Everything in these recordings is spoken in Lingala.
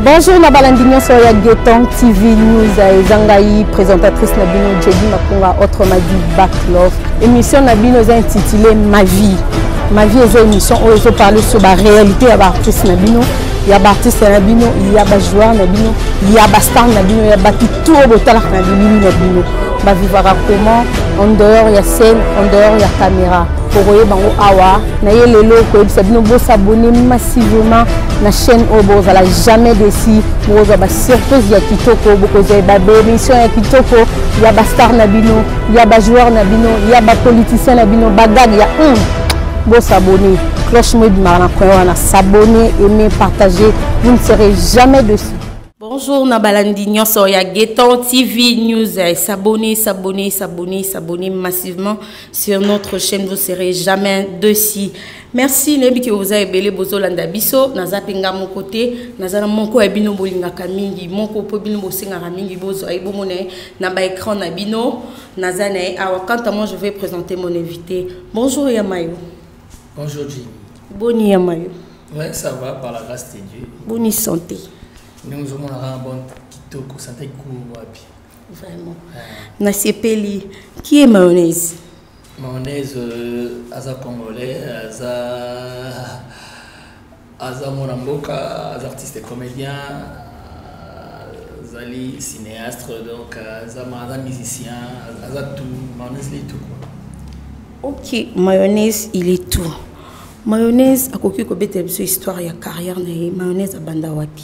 bonjour na balandi nyonso ya gueton tv news eza ngai présentatrice na bino jedi makunga autrement dit backlove émission na bino eza intitulé ma vie Ma vie eza émission oyo ezo parler sur ba réalité ya ba artistes na bino ya ba artistes na bino ya ba joueurs na bino ya ba stars na bino ya batu tout oyo botalaka na bilili na bino ba vivaka comment en dehors ya scène en dehors ya caméra okoyeba yango awa na ye lelo koyebisa bino bosabone massivement na chaîne oyo bozala jamais desi bokozwa ba surprise ya kitoko bokozwa ba bémission ya kitoko ya ba star na bino ya ba joueur na bino ya ba politicien na bino bagag ya un hmm, bosabone cloche mo ebimaka na coin wana sabone aime partage vous ne serez jamais dessus Bonjour na balandi nyonso ya Geton TV News. Eh, s'abonner, s'abonner, s'abonner, s'abonner massivement sur notre chaîne. Vous serez jamais dessus. Merci nayebi ke oza ebele bozolanda biso naza mpe nga moko te naza na moko ya bino bolingaka mingi moko mpo bino bosengaka mingi bozwa ye bomona ye na ba écran na bino naza na ye awa quant à moi je vais présenter mon invité bonjour ya mayo bonjour jimi boni ya mayo ouais ça va par la grâce de dieu boni santé ndenge ozomonaka na bonne kitoko santé kikumu wapi vraiment nasepeli qui est mayonnaise Mayonnaise euh, aza congolais, aza aza mwana mboka, aza artiste comédien, euh, azali cinéaste donc euh, aza aza musicien, aza tout, mayonnaise li tout quoi. OK, mayonnaise il est tout. Mayonnaise akoki kobetela biso histoire ya carrière na ye. Mayonnaise abanda wapi?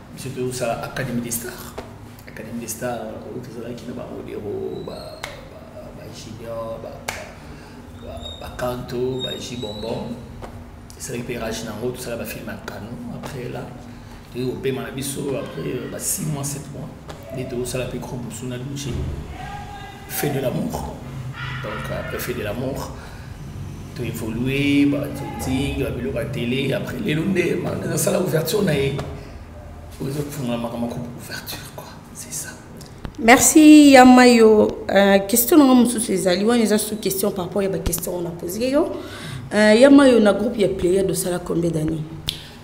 biso tozosala académie des stars académie des stars oyo tozalaki na baodero bajunior bakanto baji bonbon esalaki mpe rage na yango tosala bafilme ya canon après là toyei kopema na biso après ba 6 mois 7 mois nde tozosala mpe groupe mosusu na duce fait de l'amour donc après fait de l'amour to évoluer ba to ting ba biloko télé après les lunde ma na sala ouverture na ye ozo funga makama ko ouverture quoi c'est ça merci yamayo euh, question na mususu ezali wana eza sous question par rapport ya ba question on a posé yo euh, yamayo na groupe ya player de sala combien d'années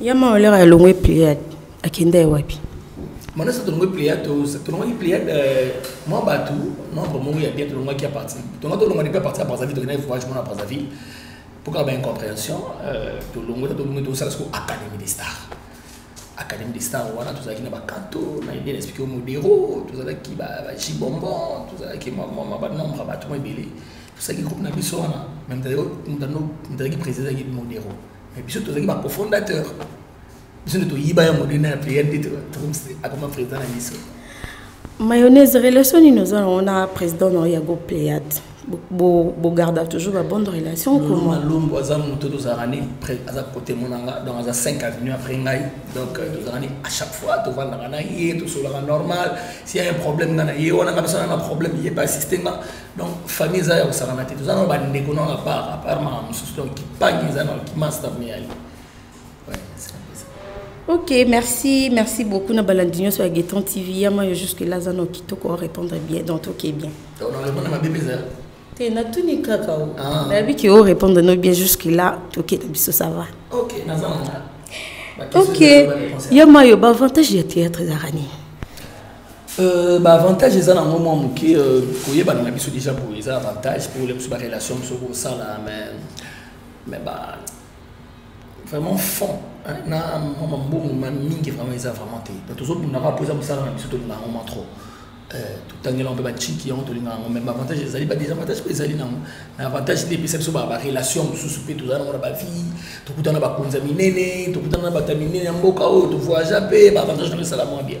ya maolere alongwe pliade akenda ye wapi manasa tolongwe pliade tolongwaki pliade euh, mwa bato membre moko ya bien tolongwaki ya parti tonga tolongwa depi ya parti ya brazzaville tokendaki voyage mona brazzaville mpoka ba incompréhension euh, tolongwe ta tolongwe tosala siko académie de star académie de star wana tozalaki na bakanto na ide na explike modero tozalaki bajibombon tozalaki banombre ya bato mwa ebele tosalaki groupe na biso wana me moto azalaki président azalaki modero mais biso tozalaki ba cofondateur biso nde toyiba yango nde na priere nde akoma président na biso mayonnaise relation nini oza nango na président na ya go pléade bogarda toujours ba bonne relation comment lombo aza moto tozalaka ni aza côté monanga donc aza 5 avenue après ngai donc euh, tozalaka ni à chaque fois tovandaka na ye tosolaka normal s'il y a un problème nga na ye wana nga biso na problème ye ba assiste nga donc famille eza ya kosakana te toza nano bandeko nano apart apart maka mosusu donc kipangi eza nano kimasta meyali ok merci merci beaucoup na balandi nyonso ya gueton tv yama yo jusque là aza nao kitoko orépondre bien donc toke bien te natuni kaka o ah. nayebi ke orépondre no bien jusque là toke na biso ça va ok naza ok yama yo baavantage ya théâtre ezaka nini Euh, ba avantage eza nango mwa moke euh, koyebana na biso déjà boye eza avantage mpo le biso barelation biso kosala mais mais ba vraiment fond na mwa mambongo ma mingi vraiment eza vraiment te donc tozobundaka mpo eza mosala na biso tolingaka yango mwa trop euh, totangelaka mpe baciki yango tolingaka yango mais baavantage ezali badesavantage mpe ezali nango na avantage nde epesa biso barelation mosusu mpe tozala nango na bavie tokutana na bakonzi ya minene tokutana na bato ya minene ya mboka oyo tovoyagea mpe baavantage nango esala mwa bien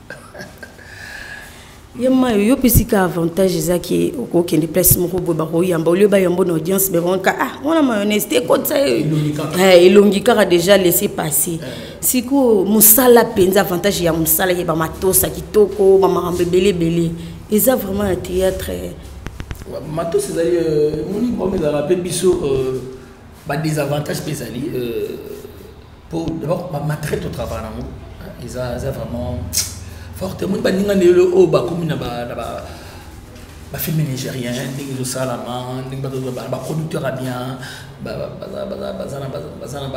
ye mayo yo mpesi ka avantage eza ke okokende place moko boye bakoyamba olio bayamba na audience bebanka ah wana mayonnaise te ekotisa elongi kaka déjà laisse passer sikoyo mosala mpenza avantage ya mosala ye bamatosa kitoko bamakambo ebele ebele eza vraiment na théâtre matos ezali moni bom ezalaka mpe biso badesavantage mpe ezali po d'abord ba matraite otravaka nango eza eza vraiment forte omoni baninga nde lelo oyo bakomi na bafilme nigérien ndenge ezosalama ndenge baproducteur ya bien baza na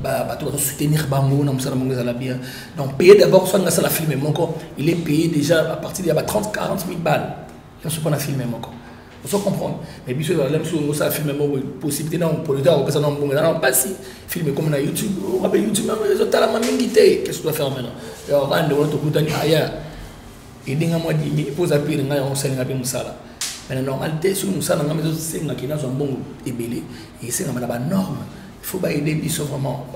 bato bazosoutenir bango na mosala bango ezala bien donc paye d'abord soki nga asala filme moko il est payé déjà à partir ya ba 30 40 000 balles nyonso mpo na filme moko ozo comprendre mais biso ezala biso osala filme moko possibilité na polita akopesa na mbongo ezala mpasi filme ekomi na youtube okape youtube yango ezotalama mingi te qu'est-ce que tu vas faire maintenant okaa ndeko na tokutani aya edinga mwa dimi mpo oza pire ngai yango osalinga mpe mosala mais na normalité soki mosala na ngai ezosenga ke nazwa mbongo ebele esengama na banorme il faut baede biso vraiment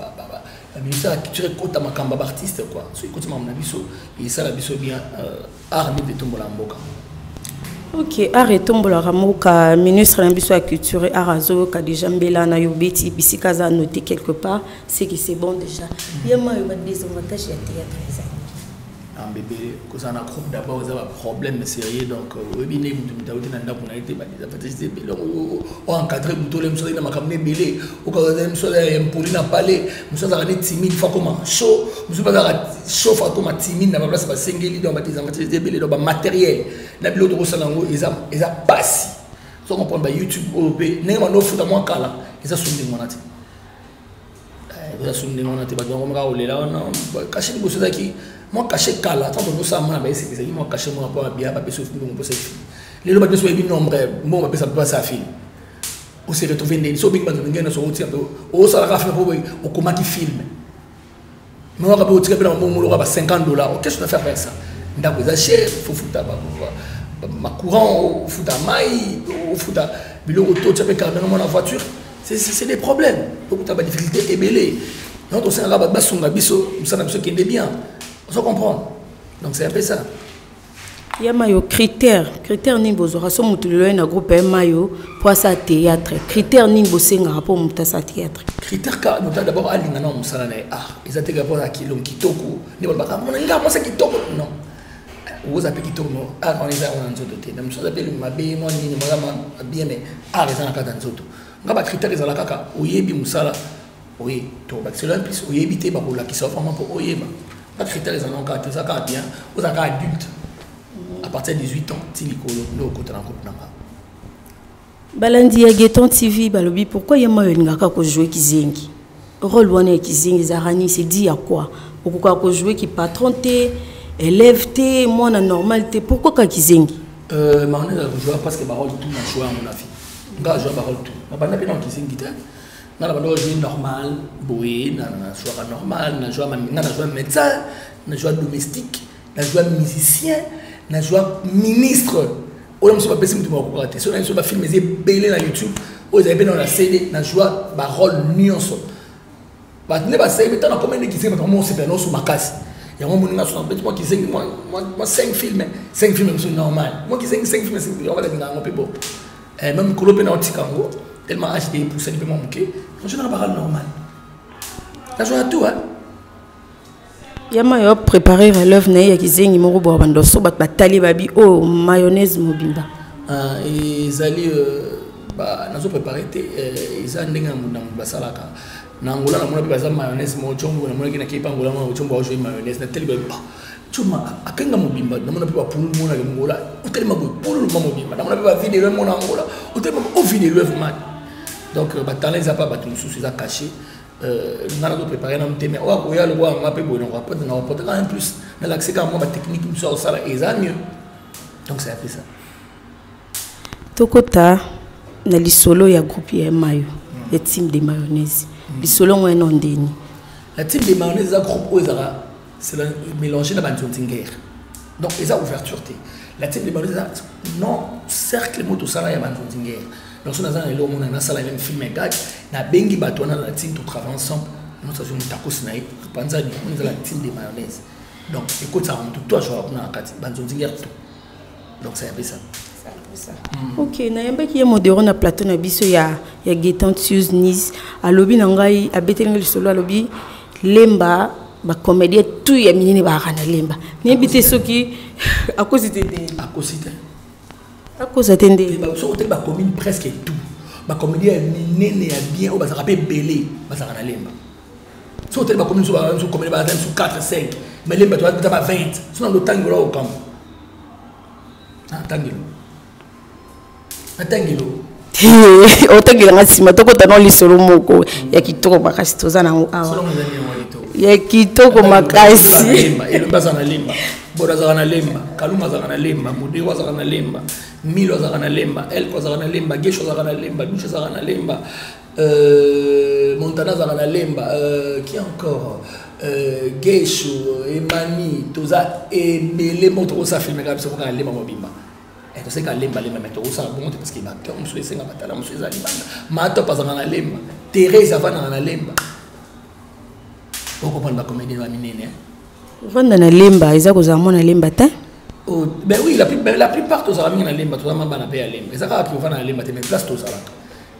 ministère ya culture ekota makambo ya baartiste quoi soki ekoti makambo na biso esala biso bien euh, art nde etombola mboka ok art etombolaka mboka ministre na biso ya culture art azoyoka déjà mbela na yo beti bisika aza note quelque part ce qui c'est bon déjà ye mayo badesavantage ya théâtre eza ambebele ah, kozala na groupe d'abord eza baproblème sérieux donc euh, oyebi nde moto moto auti na ndako na ye te badesavantage eza ebele oencadre moto ole mosala na makambo na ebele okazala mosala ya impoli na palais mosusu azalaka nde timide fo akoma chaud mosusu bazalaka chaud fo akoma timide na baplace basengeli donc batezanga te ebele donc bamateriel na biloko tokosala yango eza mpasi so comprendre bayoutube oyo mpe ndenge bando ofuta mwa kala eza soni ndenge wana te eh, eza soni ndenge wana te bato yango maka kolela wana kashe liboso ezalaki mwa kashe kala ntango tozosala mwana baeseke ezalaki mwa kashe mwana mpo babia bapesa ofimbi mposa efili lelo bapesa oyebi nombre mbongo bapesa mpe basa afili o se retrouver ndeni so bingi bato ndenge na songo tika o sala ka film po o koma ki film mais waka bo tika bela mo ngolo ka ba 50 dollars qu'est-ce que tu vas faire avec ça ndako eza cher faut futa ba ma courant o futa mai o futa biloko to tia pe carburant na mwana voiture c'est c'est des problèmes donc tu as des difficultés ebele donc on s'en va ba songa biso musana biso kende bien on se comprend donc c'est un peu ça ya mayo critère critère nini bozwaka so moto lelo ye na groupe ya mayo mpo asala théâtre critère nini bosengaka mpo moto asala théâtre critère ka moto d'abord alinga na mosala na ye ah eza te kaka na kilo kitoko nde balobaka mona nga mwasa kitoko non oza mpe kitoko no art ah, wana eza yango na nzoto te na mosusu aza mpe elongi mabe mwa nini mwaza bien mais art eza na kaka nzoto nga bacritère ezala kaka oyebi mosala Oui, to ba cela plus oyebi te ba ko la ki sa vraiment pour oyeba. Pas critère les anons carte ça carte bien, aux aka adulte. Mm-hmm. À partir de 18 ans, ti likolo ndo ko tana ko na ba. Balandi ya Geton TV balobi pourquoi yema yo ngaka ko jouer kizengi. Rôle wana ya kizengi zarani c'est dit à quoi? Okoka ko jouer ki patron te, élève te, moi na normal te, pourquoi ka kizengi? Euh, Marne a joué parce que Barol tout na joué à mon avis. Nga joué Barol tout. Na banda pe na kizengi te. nga na bandoko ezwi normal boye nazwaka normal nazwa nga nazwa médecin nazwa domestique nazwa musicien nazwa ministre oyo mosusu bapesi motu bakokaka te soki na biso bafilme eza ebele na youtube oyo ezali mpe na na cd nazwa barole nyonso bato nde basebi ntango nakomi nde kizengi bato mosepela nyonso makasi yango moni nga sona mpe mwa kizengi mwa 5 filme 5 filme mosusu normal mwa kizengi 5 filme yango balinga yango mpe bo eh, meme kolo mpe na otika yango tellement age te epusani mpe mwa moke nazonaka bakala normal nazwaka tout hein ya mayo ya préparer relève na ye ya kizengi moko boya bandoso bato batali babi oyo oh, mayonnaise mobimba ah, ezali euh, nazo préparé te euh, eza ndenge na moto basalaka na angola namona mpe baza mayonnaise moko combo namonaki na kepa angola moko combo aojoi mayonnaise na teli babi Chuma akenga mobimba namona mpe bapululu mona longola otelema boye pululu ma mobimba namona mpe bavide eloi mona angola otelema ovide eloi vman donc euh, batalent eza mpe bato mosusu eza cache euh, nga nazo prépare na motema oyo akoya lokola nga mpe boye nakoapote na kopotaka en plus nalakisi kaka mwa batechnique mosusu ya kosala eza mieux donc c'est apesa tokota na lisolo ya groupe ya mayo hmm. ya team de mayonnaise hmm. lisolo yango eno ndeni la team de mayonnaise eza groupe oyo ezalaka c'est mélangé na banzonzinger donc eza ouverture te la team de banzonzinger non cercle moto osala ya banzonzinger donc so naza na eloko mona nasala meme film egage nabengi bato wana na team to travaille ensemble nosazwi motakosi na ye topanzani moni eza la team de mayonnaise donc ekotisaka moto to azwaka kuna na kati banzonzinger tout donc ça yabisa hmm. ok nayambaki ye modero na plateau na biso ya, ya getan tus nice alobi na ngai abeteli ngai lisolo alobi lemba bacomédien tout ya minene baaka na lemba nayebi te soki akosi te nde akosi te akosa te nde soki te bacommune presque tout bacomédien ya minene ya bien oyo bazalaka mpe ebele bazalaka na lemba soki otali bakomi biso babiso komele baza biso 4 5 mais lemba toza ba 20 sona lotangi ola okambo natangelo natangelo otangela nga nsima tokota no lisolo moko ya kitoko makasi toza nango awa ya kitoko makasi elombe azala na lemba boda azalaka na lemba kaluma azalaka na lemba modeo azalaka na lemba milo azalaka na lemba elko azalaka na lemba gesho azalaka na lemba dushe azalaka na lemba Euh, Montana azalaka na lemba euh, qui encore euh, gesho emani toza ebele moko tokosa filme kaka biso kaka lemba mobimba eh, toseka lemba lemba me tokosala bongo te parceke baacteur mosusu esenga batala mosusu eza libanda matop azalaka na lemba therese avandaka na lemba okoprendre bacomédien ba minene vanda na lemba eza kozala mwana lemba te oh, ben oui la, ben, la plupart tozalaka mingi na lemba tozalama bana mpe ya lemba eza kaka tovanda na lemba te mais place tozalaka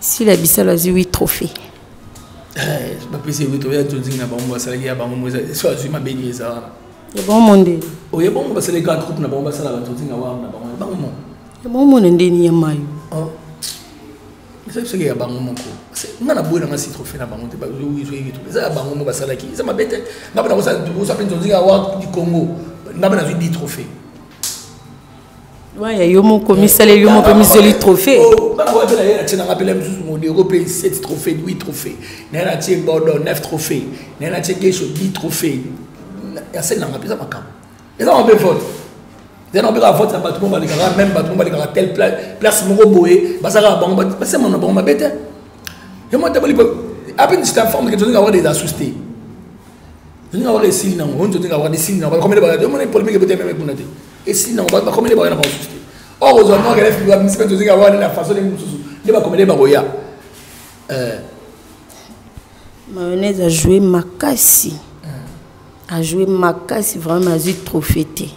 sila bisalu azwi wi trophée eh, bapesi ye wito ya nzonzingi na bango basalaki ya bango mo so azwi mabe nini eza wana ya bango mo nde oye bango basali grand groupe na bango basalaka nzonzingi na wana na bango ya bango mo ya bango mo na ndeni ya mayo oh. eza biso ya bango moko nga na boye nanga si trophée na bango te bazoyiki trophée eza ya bango moko basalaki eza mabe te nga mpe nakosa mpe nzonzingi awa du congo nga mpe nazwi di trophée waya yo moko misaleli yo moko mizweli trophée oh, bango mpela ye natie nanga mpela mosusu modero mpe 7 trophée 8 trophée naye natie bodo 9 trophée naye natie gesho 10 trophée ya seli nanga mpeza makambo eza mabe vote eza na beka vote ya bato mo balekaka meme bato mo balekaka tel place moko boye bazalaka bango basema na bango mabe te yo mata bolipo ape nzita forme ke tolinga avoir des asus te tolinga avoir esili nango oni tolinga avoir esili nango bakomele bakati omona polemike bote meme kuna te esili nango bato bakomele bakoya na bango susu te or ozwa mwa kelef liwa misi mpe tozika wana na façon ndenge mosusu nde bakomele bakoya eh. mayonnaise a joué makasi eh. a joué makasi vraiment azwi trophée te eh.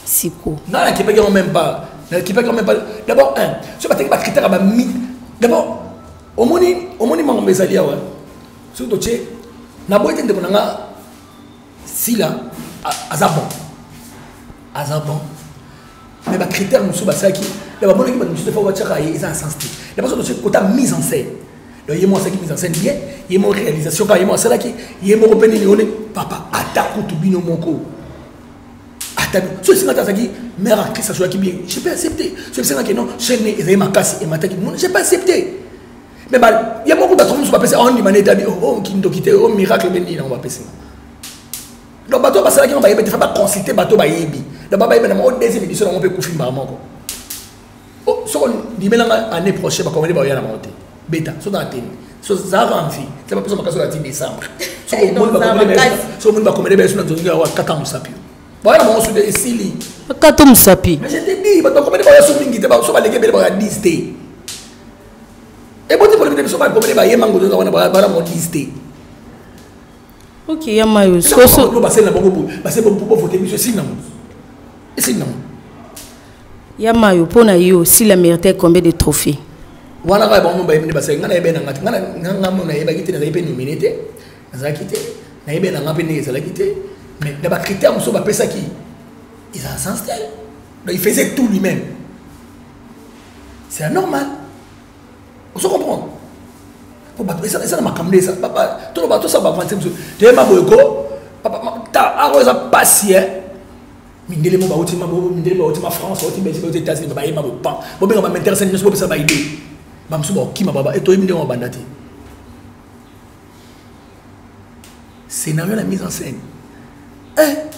siko nga nakipaki yango même pas nakipaki yango même pas d'abord un soki bateki bakritaka bami d'abord omoni omoni mango mbe ezali awa soki totie naboyi te ndeko na nga sila aza bon aza bon mais bacritère mosusu basalaki na bamonaki bato mosusu efa batiaka ye eza na sens te na baso tosi kota mise en scène donc ye moko asalaki mise en scène bien ye moko réalisation kaka ye moko asalaki ye moko mpe nini one papa ata kutu bino moko ata so esenga te azalaki mère actrice asolaki bien je peux accepter so esenga ke non chaîne ezali makasi emataki mona je peux accepter mais ba ye moko bato mosusu bapesi ondima na etabi o kindoki te o miracle be nini yango bapesi nga donc bato basalaki yango bayebi te fa baconsulte bato bayebi donc bayebi na moko deuxième édition yango mpe kufi mbala moko soko ndimela nga année prochaine bakomeli baoya na bango te beta so na ateni so zaka envi te bapesa makasi oyo ati décembre soko omoni bakomeli bayesu na zongi awa kaka mosapi baoya na bango sude esili kaka to mosapi mais je te dis bato bakomeli baoya so mingi te so baleki ebele baoya 10 te eboti polemi te biso bakomele bayemba ngozo wana bana modise te oke ya mayo soso basele na bango boye basele bango mpo bovote biso esili nango esili nango ya mayo mpo na yo si la mérite combien de trophée wana kaka bango bayebi nde basali ngai nayebi na ngai te ngai ngai mo nayebaki te nazalaki mpe nomine te nazalaki te nayebi na ngai mpe ndenge ezalaki te mais na bacritère mosusu bapesaki eza sens te donc il faisait tout lui-même c'est anormal ozo comprendre po bato eza na makambo nde eza toloba tosala bavanse mosusu toyema boye ko ako eza mpasi e mindele mo bauti mindele bauti ma france bauti belgique bauti états-unis bayema boye pan bobenga baminteresse nyonso bopesa baide bamosusu bakokima baba e toyebi ndenge babanda te scénario na mise en scène eh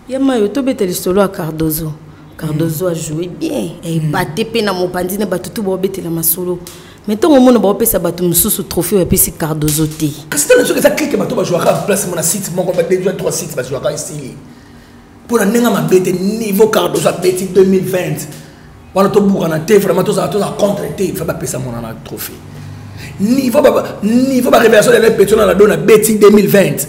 ya mayo tobeta lisolo ya cardozo cardozo mm. ajoue bien ebate mm. mpe na mopanzi na bato tu baobetela masolo me ntongo omona baopesa bato mosusu trophée oyo apesi cardozo te kasi ntango soki eza klike bato bajouaka place mona site moko badejua trois site bajouaka esili mpo na ndenge mabe te niveau cardozo abeti 2020 wana tobukana te vraiment tozala tozala contre te fa bapesa mona na trophée niveau ba niveau ba révélation de la pétrole na do na beti 2020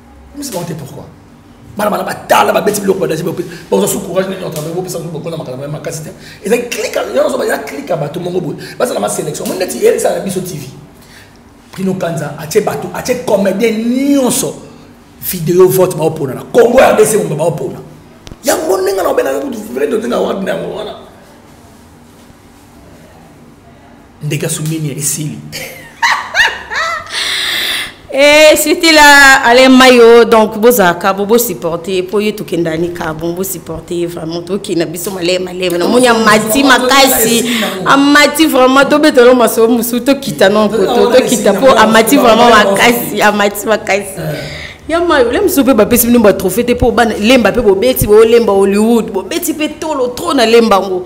komisa bango te pourquoi bana bana batala babeti biloko badasi bakozwa su courage nini otravaille bopesa ngo bokola makambo ya makasi te ezali klika yo nazoba ya klika bato mongo boye bazala ma sélection mo neti eyebisana na biso tv prino kanza atie bato atie comédien nyonso video vote baopona na congo ya rdc momba baopona yango ndenge na obena kutu vraidotenga wagner yango wana ndeke asumini esili Et eh, c'était là, Alain Mayo, donc boza kabo bo supporter pour yetu kendani kabo bo supporter vraiment to ki na biso malé malé na monya mati makasi amati vraiment to betolo maso musu to kita non ko to to kita po amati vraiment makasi amati makasi ya mayo le musu pe ba pesi bino ba trophée te po ba lemba pe bo beti bo lemba Hollywood bo beti pe tolo trop na lemba ngo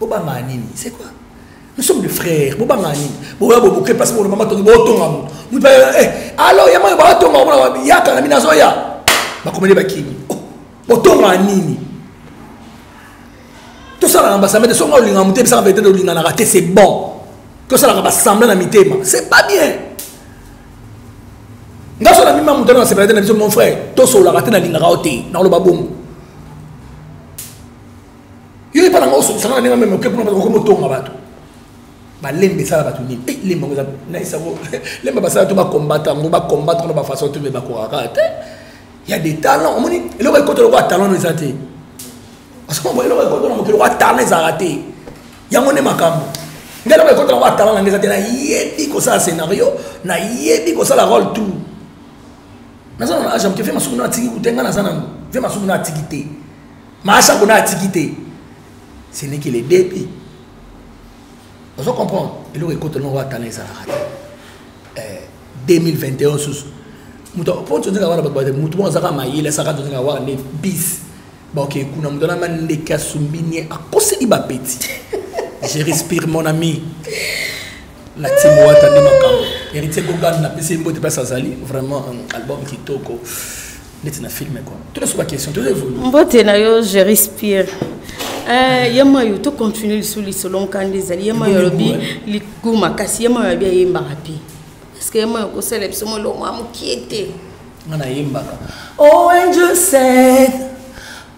bobanga nini c'est quoi nous sommes des frères bobanga nini boya boboke mpasi bono mama tongi botonga moto moto eh, alo ya mayo batonga omona yaka na bino azoya bakomeli bakimi oh, botonga nini tosalaka basambe te soki olingaka moto ebisaka vete olinganaka te c'est bon tosalaka basamble na mitema c'est pas bien nga so na mima moto na sepelate na biso mon frère tosololaka te nalingaka yo te nakoloba bongo yo epa nanga osokisanga na ndenge meme oke kuna okoma otonga bato balemba esala bato nini e lemba yango eza nayisa yango lemba basala to bakombata yango bakombata na bafaçon to me bakokaka te ya des talents omoni eloko ekota lokola talent no eza te parce que eloko ekota na mokili lokola talent ezalaka te yango nde makambo ngai eloko ekota lokola talent nanga eza te nayebi kosala scénario nayebi kosala role tout naza na age ya moke ve masuku na atiki kute ngai naza nango ve masuku na atiki te Maasha kuna atiki te. Ce n'est que le début. Vous comprenez Eloko ekoto no wa tala ezalaka te. Eh 2021 susu. Mutu po nzo nzaka wana bato bato mutu mo azaka mayele saka nzo nzaka wana ne bis. Ba ok kuna mutu na mande kasumbi nie akoseli ba petit. Je respire mon ami. la team wata nde makambo héritier gogan napesi ye mbote place azali vraiment album kitoko neti na filme kua tola so baquestion toza evolu mbote na yo je respire eh, ye mayo tocontinue lisu lisolo nkanda ezali ye mayo alobi ligu makasi ye mayo abi ayembaka mpe parceke ye mayo kosala biso molongo ya mokie te nga nayembaka oh angel said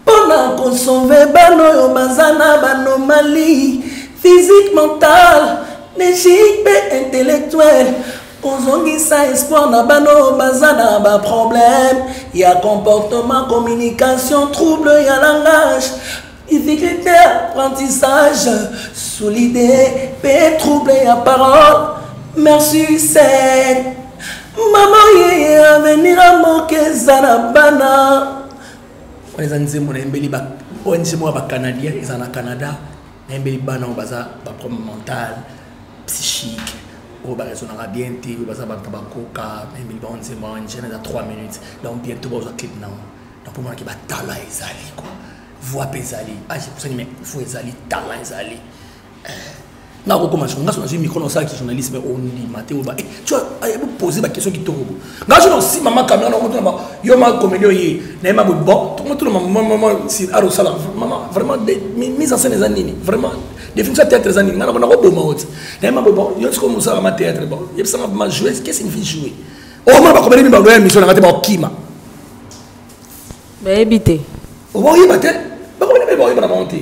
mpo na kosove bana oyo baza na banomali physique mentale negique mpe intellectuelle kozongisa espoir na bana oyo baza na baproblème ya comportement communication trouble ya langage difficulté apprentissage solide mpe trouble ya parole merci sen mama yeye avenira moke eza na bana wana eza nzembo nayembeli ong moko ya bacanadien eza na canada nayembeli bana oyo baza baproblème mental psychique oyo baraisonnaka bien te oyo baza bato bakoka nayembeli bango nzembo wana ngene eza 3 minutes donc bientôt bazwa clip nango donc omonaki batala ezali kua voix mpe ezali age ah, epusanime fo ezali tala ezali nga kokoma jour nga so nazwi micro na osalaki journaliste me ondima te oba tu pose baquestion kitoko bo nga so na osima ma kamera na okotuna yo ma komedi oye na ye ma boye bon tokomotuna mamama si ar osala mama vraiment mise en scène eza nini vraiment définition ya théâtre eza nini nga nako nakoboma oti na ye ma boye bon yo sikoyo mosala ma théâtre bon yebisanga ma jouer que signifie jouer omona bakomeli mi baloya émission na nga te bakokima bayebi te obaoyeba te bakomeli mi baoyeba na bango te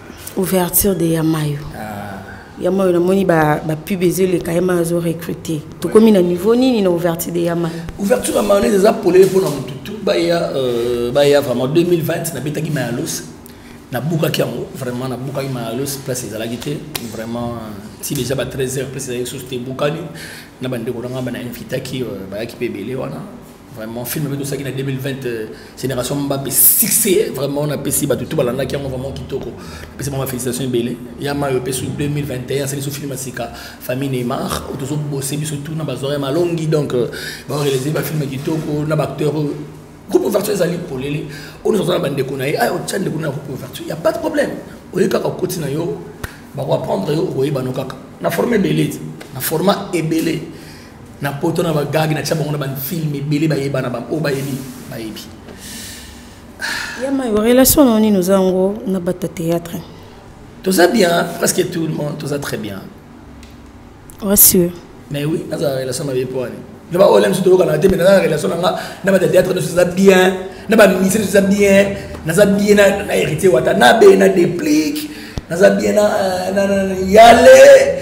ouverture de yamayo ah. yamayo namoni bapub ezoleka yamayo azo recrute tokomi na niveau nini na ouverture de yamayo ouverture ya mayonnaise eza polele mpo na motu tu baya euh, baya vraiment 2020 nabetaki mayalos nabukaki yango vraiment nabukaki mayalos place ezalaki te vraiment ti déjà ba 13 heures place ezalaki susu te ebukani na bandeko na ngai bana invitaki euh, bayaki mpe ebele wana vraiment film oyo tosaki na 2020 euh, génération mbape succès vraiment napesi bato tu balandaki yango vraiment kitoko napesi bango bafélicitation ebele ya mayo epesu 2021 asali so film ya sika famille neymar oyo tozobose biso tu na bazoria malongi donc euh, baorelese bafilme kitoko na baacteur oyo groupe ouverture ezali polele oyo nyonso aza na bandeko na ye aya otya ndeko na groupe ouverture ya pas de problème oye kaka okoti na yo bakoaprendre yo okoyebano kaka na forme ebele na format ebele na poto na bagage na tia bango na bafilme ebele bayebana baoyo bayebi bayebi ya mayo relation na nini oza yango na bato ya théâtre toza bien presque tout le monde toza très bien rassure mais oui nazala relation mabe mpo wani na baoyo lani so toyokana te mais naza na relation na nga na bato ya théâtre nyonso eza bien na baministre nyonso eza bien naza bien na héritier wata na be na déplique naza bien na yale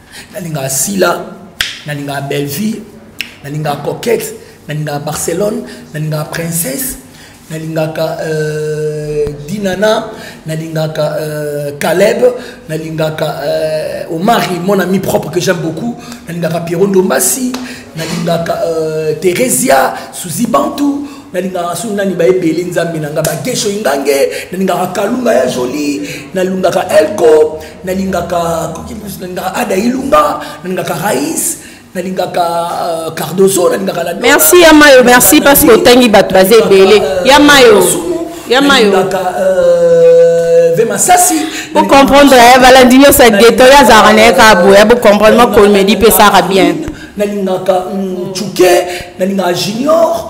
nalingaka sila nalingaka belleville nalingaka coquette nalingaka barcelone nalingaka princesse nalingaka euh, dinana nalingaka euh, caleb nalingaka euh, omari mon ami propre que j'aime beaucoup nalingaka pierro ndombasi nalingaka euh, theresia suzi bantu nalingaka soki nani bayebele nzambe na ngai bagesho ingange nalingaka kalunga ya joli nalingaka elko nalingaka nalingaka ada ilunga nalingaka rais nalingaka euh, cardoso nalingaka la merci ya mayo merci parce que otangi bato baza ebele euh, ya mayo ya mayo euh, vemasasi bocomprendre eh, balandi nyonso ya geto oyo azalaka na ye kaka boya bocomprendre mwa komedi mpe esaka bien nalingaka mm, chuke nalingaka junior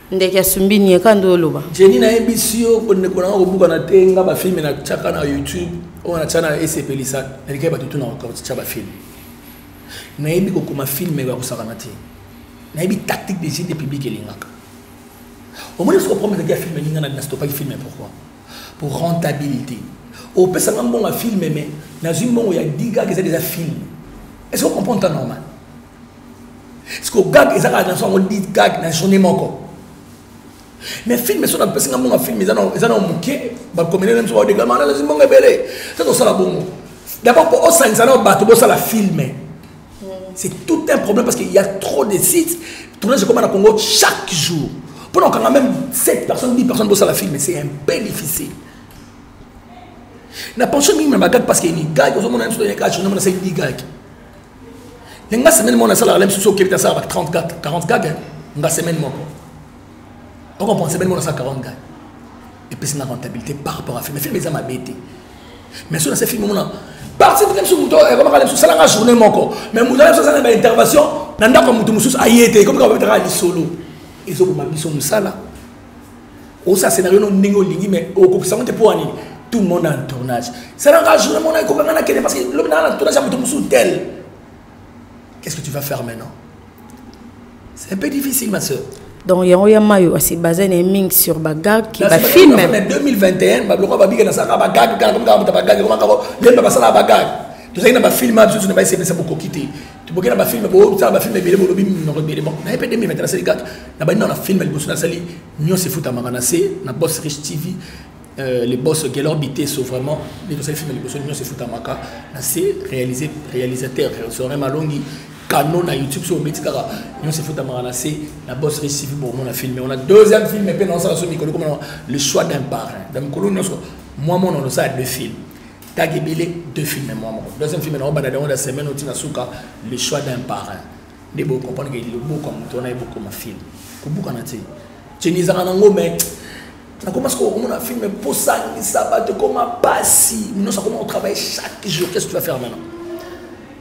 ndeke asumbi nie ka nde oloba jeni nayebisi yo kondeko nanga kobukana te nga bafilme natyaka na youtube oyo natya na esepelisa naliki ya bato tuna kokotya bafilme nayebi kokoma filme ya kosakana te nayebi tactique de jeu de public elingaka omoni soki oprometaki ya filme elinga na stopaki filme pourquoi pour rentabilité opesanga mbongo ya filme me nazwi mbongo ya digak eza deja filme est ce que ocomprendre ta normal siko gag eza kaka naso yango di gag na journée moko mais film so napesi nga mbongo ya film eza na moke bakomele na biso baodegama nalasi mbongo ebele ta tosala bongo d'abord mpo osanisa nao bato bosala filme mm. c'est tout un problème parce qu'il y a trop de sites tournage ekoma na congo chaque jour mpo na kokanga même 7 personnes 10 personnes bosala filme c'est un peu difficile na pension mingi na bagage parce que ni gage ozomona biso toyaka journée mona sali di gage mais nga semaine moko nasalaka la mosusu okebita asalaka 34 40 gage nga semaine moko okomprend semaine moko nasala 40 gage epesi na rentabilité par rapport à film film eza mabe te mais soki nase film omona parti na biso moto ekomaka na biso salanga journée moko mais moto na biso asala na baintervention na ndako ya moto mosusu aye te ekomika babetaka lisolo ezoboma biso mosala osa scenario no ndenge olingi mais okokisa yango te mpo anini tout le monde en tournage salanga journée mona ekokanga na kende parce que lobi naa na tournage ya moto mosusu tel qu'est ce que tu vas faire maintenant c'est un peu difficile ma soeur donc yango ya mayo asi baza na mingi sur bagag ki bafilme na 2021 babiloko babika nasalaka bagag kaka komikaka moto bagag komaka ko lemba basalaka bagag tozalaki na bafilme ya bisusu na baesepesa bokoki te toboke na bafilme bosala bafilme ebele bolobi minoko ebele bon naye mpe 2020 nasali kaka na bandi nao na filme liboso nasali nyonso efutamaka na se na boss rich tv euh, le boss gelor biteso vraiment nde tosali filme liboso nyonso efutamaka na se réalisé réalisateur sorin malongi kano na youtube so obeti kaka nyonso efutamaka na se na boss rich tv bomona filme wana deuxième filme mpe naosala so mikolo komona le choix d'un parrain na mikolo nyonso mwa mona onosala deux filme kaka ebele deux filme mwa moko deuxième filme naobanda yango na semaine oti na suka le choix d'un parrain nde bocomprendre ke loboko ya moto wana ye bokoma filme kobukana te ceni ezalaka nango mai nakoma sikoyo okomona filme posangisa bato ekoma mpasi nyonso akoma kotravaille chaque jour qu'est ce que tu vas faire maintenant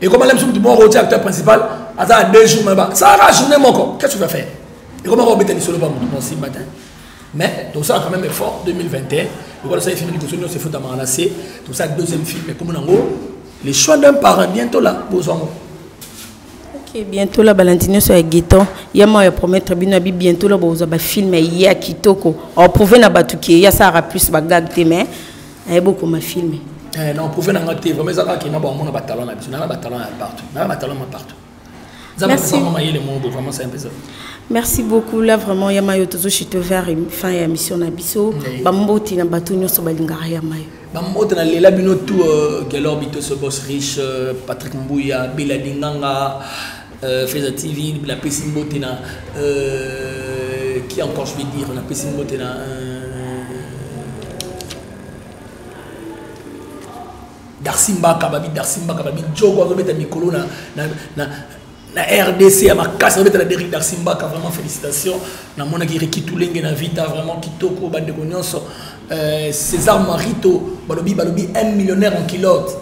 ekoma lem soki moko otia acteur principal aza na deux jours maba salaka journée moko qu'est ce que tu vas faire ekoma kobeta lisolo pa moto mosi matin mais tosala quand même effort 2021 lokola tosali film liboso nyonso efutamaka na se tosala deuxième film ekomi nango le choix d'un parent bientôt la bozwa ngo ok bientôt la balandi nyonso ya gueton ya mawa ya promettre bino abi bientôt la bozwa bafilme ya kitoko oprouve na bato ke ya sara plus bagag te mais ayebokoma filme eh, na oprouve na nga te vraiment eza kaka kena baomona batalent na biso nana batalent ya partout nana batalent ma partout Merci. Merci beaucoup là vraiment ya mayo tozo chute vers fin ya mission na biso ba mboti na bato nyonso balingaka ya mayo ba mboti na lela bino tout euh, Gelor Bito ce boss riche euh, Patrick Mbuya Bela Dinganga euh, Feza TV la pesi mboti na qui encore je vais dire la pesi mboti na Darcy Mbaka babi Darcy Mbaka babi Djogo azobeta mikolo na na na na RDC ya makasi azobeta na Derrick Darcy Mbaka vraiment félicitations namonaki Ricky Tulenge na Vita vraiment kitoko bandeko nyonso euh, César Marito balobi balobi un millionnaire en culotte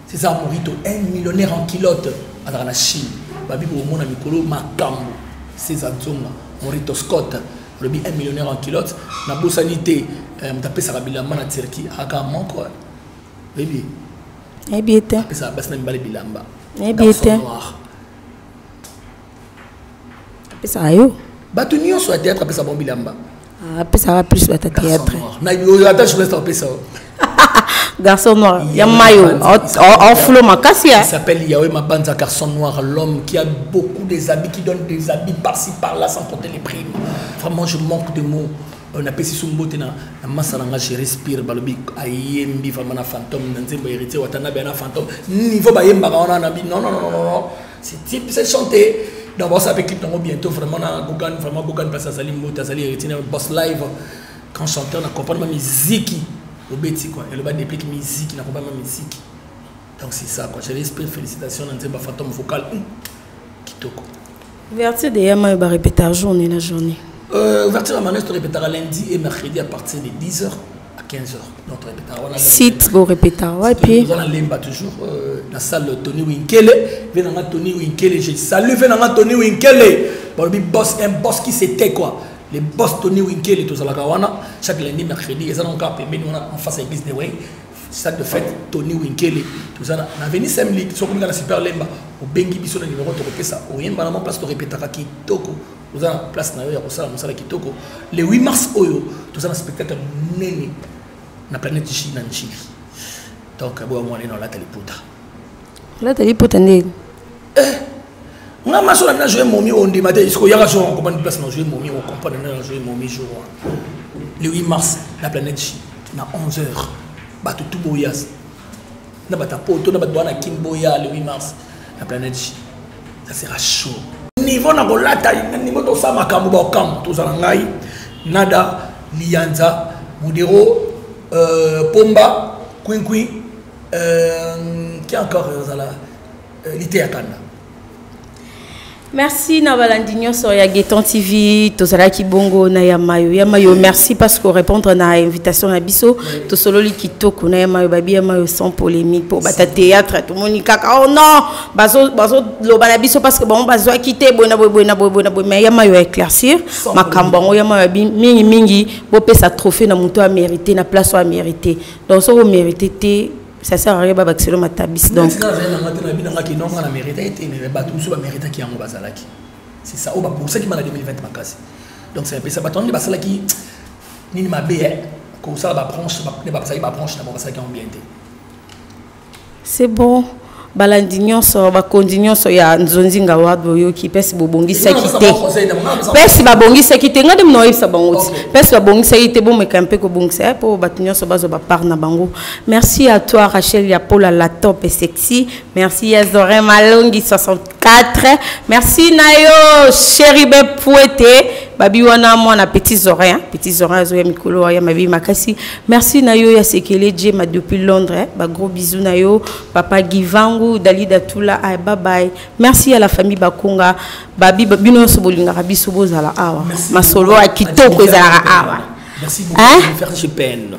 César Marito un millionnaire en culotte azalaka na Chine babi komona mikolo makambo César Nzonga Morito Scott balobi un millionnaire en culotte nabosani te euh, moto apesaka bilamba na Turquie aka moko nayebi ye te apesaka basi na mibale bilamba nayebi ye te apesaka yo bato nyonso ya théâtre apesa bango bilamba ah, apesaka plus bata théâtre ata journaliste apesa garçon noir ya mayo enfulo makasi ya s'appelle yawe mabanza garçon noir l'homme qui a beaucoup des habits qui donne des habits par-ci par-là sans compter les primes vraiment je manque de mots Euh, napesi so mbote na masa na nga géri spire balobi ayembi vraiment na fantôme na nzembo héritier watanabe na fantôme niveau bayembaka wana nabi non non non non c'est type c'est chanté donc baosa pe clip nango bientôt vraiment na gogan vraiment gogan parce azali mbote azali héritier na boss live quand chanteur na comprendre ma miziki obeti quoi eloba déplique miziki na comprendre ma miziki donc c'est ça quoi j'ai l'esprit félicitations na nzemba fantôme vocal hum, kitoko ouverture de yama ba répéta journée na journée euh, ouverture ya manès torepetaka lundi et mercredi à partir de 10 heures à 15 heures donc torepetaka wana site borepeta wapi oza na lemba toujours euh, na salle tony winkele ve nanga tony winkele je salue ve nanga tony winkele balobi boss un boss qui c'était quoi le boss tony winkele tozalaka wana chaque lundi mercredi eza nango kaka pembeni wana en face ya église de way stade de fête tony winkele toza na avenue semlik soki olinga na super lemba obengi biso na nimero tokopesa oyemba na mwa place torepetaka kitoko oza na place na yo ya kosala mosala kitoko le 8 mars oyo toza na spectacle monene na planète chine na nchili donc boya mwana eno alata liputa olata lipota ndeni eh, nga maso na bina joye momi ondima te siko yaka jour okomprendre place na joye momi okomprendre na joye momi jour wana le 8 mars la planète chine na 11 heures bato tu boya na bato ya poto na bato baa na kin boya le 8 mars la planète chine ça sera chaud niveau na kolata niveau tosala makambo baokambo tozala ngai nada liyanza modero euh, pomba quincui Euh, qui encore euh, ozala euh, liteya kanda merci na balandi nyonso ya gueton tv tozalaki bongo na ya mayo ya mayo merci parce que répondre na invitation na biso tosololi kitoko na ya mayo babi ya mayo sans polémique mpo bata théâtre tomoni kaka oh non bazoloba na biso parce que bango bazwaki te boye na boye boye na boye boye na boye mais ya mayo ya éclaircir makambo yango ya mayo abi mingimingi bopesa trophée na moto ya mérité na place oyo ya mérité donc soki omerite te ça sert à rien babakiselo matabisi donc c'est ça oyo babongisaki bana 2020 makasi donc ça epesa bato yango basalaki nini mabe kosala babranche nde bapesaki babranche na bango basalaki yango bien te C'est bon. balandi nyonso bakonzi nyonso ya nzonzinga wa boyoki mpesi bobongisaki te mpesi babongisaki te ngai nde mna oyebisa bango ti mpesi babongisaki te bomeka mpe kobongisa ye mpo bato nyonso bazwa bapart na bango merci à toi rachel ya pola la top et sexy merci ya zorin malongi 64 4 merci na yo cheribe puete babi wana mwana petits oreilles petits oreilles azoya mikolo ya mabi makasi merci na yo ya sekele jema depuis londres ba gros bisous na yo papa givangu dalida tula ay bye bye merci à la famille bakonga babi bino nyonso bolingaka biso bozala awa masolo ya kitoko ezalaka awa Merci beaucoup. Hein? Faire chez PN.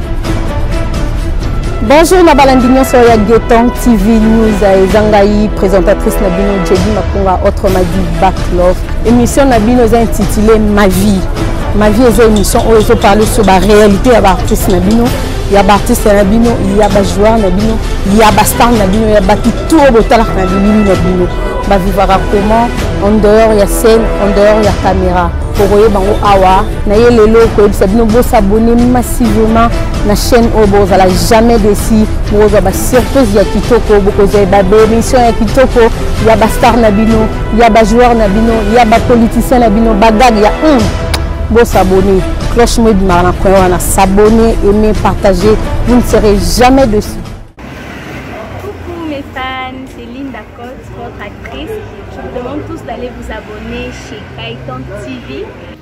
Bonjour na balandi nyonso ya Geton TV News eza ngai présentatrice na bino Jedi Makunga autrement dit Back Love émission na bino eza intitulée Ma vie Ma vie eza émission oyo ezo parler sur ba réalité ya ba artistes na bino ya ba artistes na bino ya ba joueurs na bino ya ba stars na bino ya batu tout oyo botalaka na bilili na bino ba vivaka comment en dehors ya scène en dehors ya caméra okoyeba yango awa na ye lelo koyebisa bino bosabone massivement na chaîne oyo bokozala jamais desi bokozwa basurprise ya kitoko bokozwa ye babemission ya kitoko ya bastar na bino ya bajoueur na bino ya bapoliticien na bino bagag ya hum bosabone cloche mo ebimaka na coin wana sabone aime partage vous ne serez jamais dessus Actrice, je vous demande tous d'aller vous abonner chez Kaiton TV.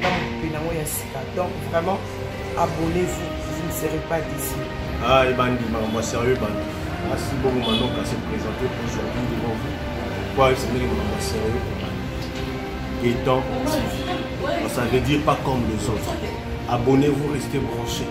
na mopepe nango ya sika donc vraiment abonnez-vous vous ne serez pas déçu ah ebandi makambo ya sérieux ebandi asi bongo manoka se présente aujourd'hui devant vous pourquoi esengeli makambo ya sérieux étant ça veut dire pas comme les autres abonnez-vous restez branchés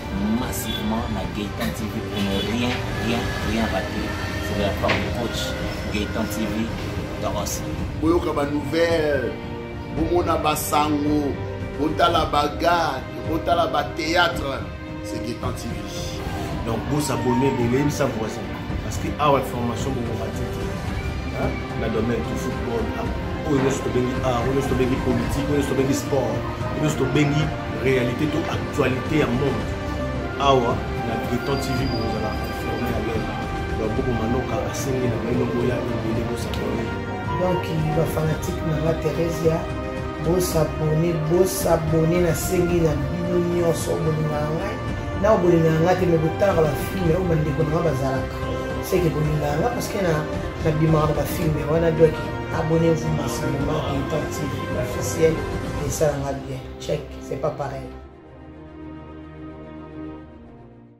massivement na Gaëtan TV pour ne rien, rien, rien rater. C'est de la part du coach Gaëtan TV Doros. boyoka banouvelle bomona basango botala bagade botala batéâtre c'est Gaëtan TV donc bosabone ebele yebisa voisin Parce que awa information boko matiki na domaine du football oyo nyonso tobengi art oyo nyonso tobengi politique oyo nyonso tobengi sport oyo nyonso tobengi réalité to actualité ya monde awa na breton tv bokozala informe ya lelo baboko manoka asengi na baino boya ebele bosakoli donc bafanatike na la theresia bosabone bosabone nasengi na bino nyonso bolinga ya ngai nao bolinga ya ngai te me botanga bafilme oyo bandeko na ngai bazalaka seke bolinga ya ngai parceke nabimaka na bafilme wana doki abone vous masanema intan tv officiel esalanga bien check c'est pas pareil